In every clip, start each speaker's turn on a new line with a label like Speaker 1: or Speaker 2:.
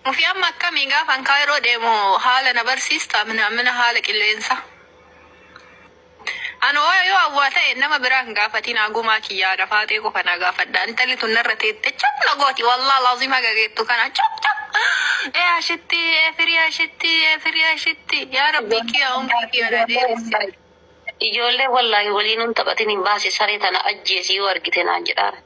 Speaker 1: Mufii amma akkamii gaafan kaayiroo deemu haala na barsiista mina mina haala qilleensa. Ani hoo yoo awwaa ta'e nama biraa hin gaafatiin agumaa kiyyaa na faaxee qofa na gaafadha. Intalli tun narra teette cap na gooti wallah laazim haga geettu kana cap cap. Ee ashitti ee firii ashitti ee firii ashitti yaa rabbii kiyyaa umrii kiyyaa na dheeresse. Ijoollee
Speaker 2: wallaahi waliin hin taphatin hin baase saree tana ajjeesi yoo argite naan jedhaan.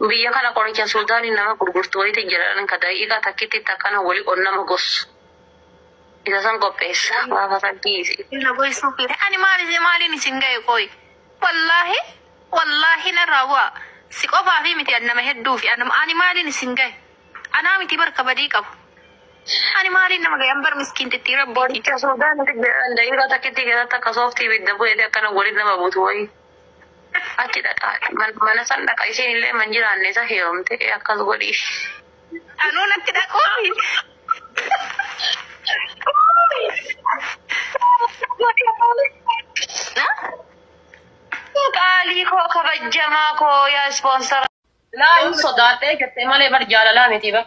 Speaker 2: Biyya kana qoricha suudani nama gurgurtu wayiti jiran ka daqiqa takititti akkana woli on nama gossu isa san qopheessa gaafa rabbii isin. na goysuu feete ani
Speaker 1: maal isin maaliin isin gaye qoy wallahi wallahi narraa bu'aa si qofaafii miti an nama hedduufi an ani maaliin isin gaye anaa miti bar ka badii qabu ani maaliin nama gaye an bar miskiintittii rabbiiti. Qoricha suudani
Speaker 2: jiran daqiqa takittii keessatti akka sooftii ibidda bu'eeti akkana woli nama butu wayii. Achi dhaqaa man- mana san dhaqa isiin illee man jiraanne isa heerumte ee akkas godhi. Anuu
Speaker 1: natti dhaqoomi.
Speaker 2: Qaalii koo kabajjamaa koo yaa ispoonsara. Laa hin sodaadhee jettee malee bar jaalalaa miti bar.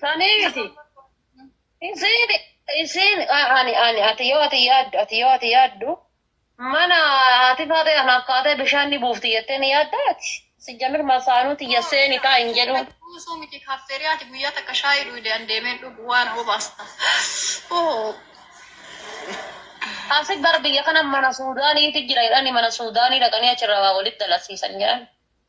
Speaker 2: Sanii miti. Isiin isiin ani ani ati yoo ati yaaddu ati yoo ati yaaddu mana haati faatee kan akkaatee bishaan ni buufti jettee ni yaaddaa ati. Sijjamir masaanuu tiyya seeni taa hin jedhu. Buusuu miti kaffeerii
Speaker 1: ati guyyaa takka shaayii dhuyde an deemeen dhugu waan obaasta.
Speaker 2: Oo. Asi bar biyya kana mana Suudaaniitu jira jedhani mana Suudaanii dhaqanii achirraa waa walitti dalasiisan jedhan.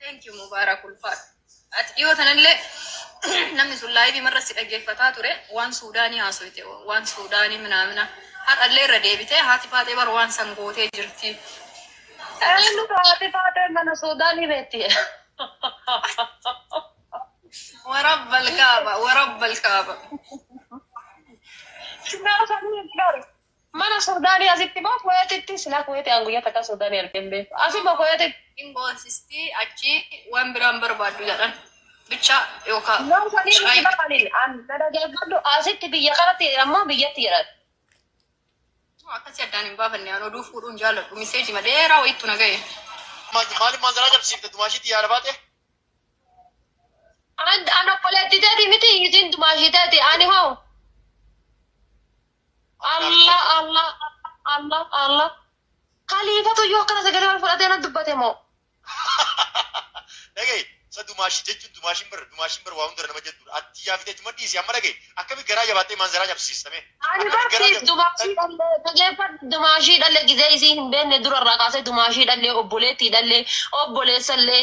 Speaker 1: Thank you Mubaarak ulfaadhu. Ati dhiyoo tanallee namni sun laayivii marra si dhaggeeffataa ture waan Suudaanii haasoyte waan Suudaanii minaamina har'allee irra deebitee haati faatee bara waan san gootee jirti. Eenyu
Speaker 2: taate taatee mana Suudaanii beekti.
Speaker 1: Warabba alkaaba warabba alkaaba.
Speaker 2: Siyaasanii gar Mana sudani asitti moo kuwetitti silaa kuweti an guyya takka sudani arge hin beeku asuma kuwetitti. Hin boonsisti
Speaker 1: achi wan biraa hin barbaaddu jedhan bicha yookaa No sanii miti shirayi bar
Speaker 2: anin an na dhageeffadhu asitti biyya kanatti jedhan moo biyyatti jedhan.
Speaker 1: No akkasi addaan hin baafanne an oduu fuudhuu hin jaaladhu miseejima dheeraa wayittu na gahe. Maaliif
Speaker 3: maanzaraa cabsiifte dumaashii xiyyaara baate?
Speaker 2: An an obboleetti teeti miti isiin dumaashii teeti ani hoo. Allah Allah Allah Allah kaliifatu iyyuu akkana sagalee ol fudhatee na dubbate moo
Speaker 3: Dhagaye sa dumaashi jechuun dumaashiin bara dumaashiin bara waa hundara nama jettuudha. Atti yaa fitee tuma dhiisi amma dhagaye akkami garaa jabaatee maanzaraa cabsiistame. ani barsiif
Speaker 2: dumaashii dhallee dhageeffadhu dumaashii dhallee gizee isii hin beekne durarraa kaasee dumaashii dhallee obboleettii dhallee obboleessallee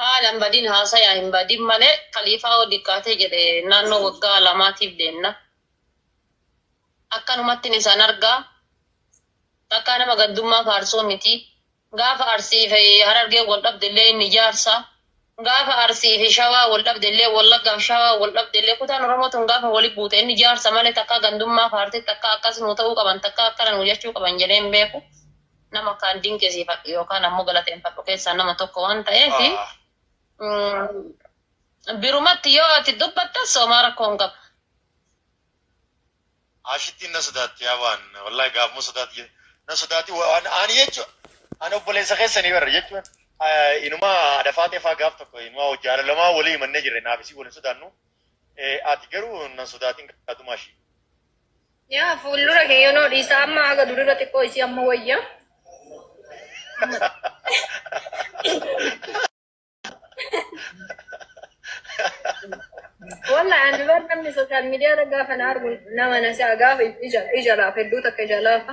Speaker 2: Haala hin badin haasaya hin badin malee kaliifaa yoo diqqaate jedhe naannoo waggaa lamaatiif deemna. Akkanumattin isan argaa. Takkaa nama gaddummaa faarsuu miti. Gaafa Arsii fi Harargeen wal dhabde illee inni jaarsa. Gaafa Arsii fi Shawaa wal dhabde illee Wallaggaa fi Shawaa wal dhabde illee kutaan Oromoo tun gaafa wali buute inni jaarsa malee takkaa gandummaa faartee takkaa akkas nuu ta'uu qaban takkaa akkana nuu jechuu qaban jedhee hin beeku. nama kaan dinqisiifadhu yookaan ammoo galateeffadhu keessaa nama tokko waan ta'eef birumatti yoo ati dubbattas homaa rakkoo hin qabu.
Speaker 3: Ashittiin na sodaatti yaa waan wallahi gaafuma sodaatti jedhe na sodaatti waan ani jechuun ani obboleessa keessanii barra jechuun inuma adafaa teefaa gaaf tokko inuma hojii haala lamaa walii himannee jirre naaf isii waliin sodaannu ati garuu na sodaatiin gaatumaa ishii. Yaa
Speaker 1: fuuldura kee yoonoo dhiisaa amma haga durirra xiqqoo isii amma wayya. Walla ani bar namni sooshaal miidiyaa irra gaafa na argu nama na si'a gaafa ija ija laafa hedduu takka ija laafa.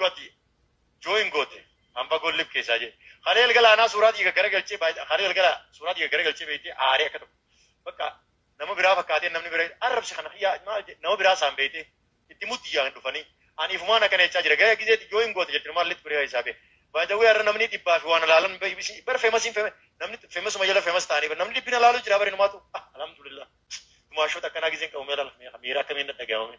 Speaker 3: Goti join goote hamba gollib keessaa jee kalee galgala anaa suuraa dhiiga gara galchee baay'ee kalee galgala suuraa dhiiga gara galchee beektee aaree akka tokko bakka nama biraa fakkaatee namni bira arrabsi kana kiyyaa maal jee nama biraa saan beektee itti mutti yaa hin dhufanii ani ifumaan akkana jechaa jira gara gisee yoo hin goote jettu maal litti biraa isaa bee baay'ee har'a namni dhibbaa fi waan alaalan beeksisi bar feemasiin feeme namni feemasuma jala feemas ta'anii bar namni dhibbina alaaluu jira bari numaatu alhamdulillah tumaashoota akkanaa giseen qabu meela miira akkamiin dhaga'amame.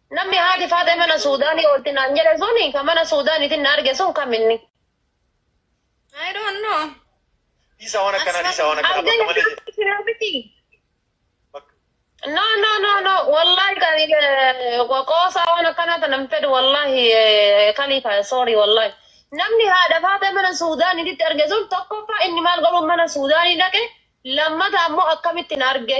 Speaker 2: Namni haati Faaxee mana Suudaanii oolti naan jedhe suni ka mana Suudaaniitiin na arge sun kam inni?
Speaker 1: I don't know.
Speaker 3: Dhiisaa
Speaker 2: waan akkanaa dhiisaa waan akkanaa bakka malee jedhe. Argee jira miti. Bakka No, no, no, no. Wallahi kan eh, qoosaa waan akkanaa tana hin fedhu wallahi eh, kaliifa sorry wallahi. Namni haadha faatee mana Suudaaniititti arge sun tokkoffaa inni maal godhuun mana Suudaanii dhaqe lammata ammoo akkamitti na arge.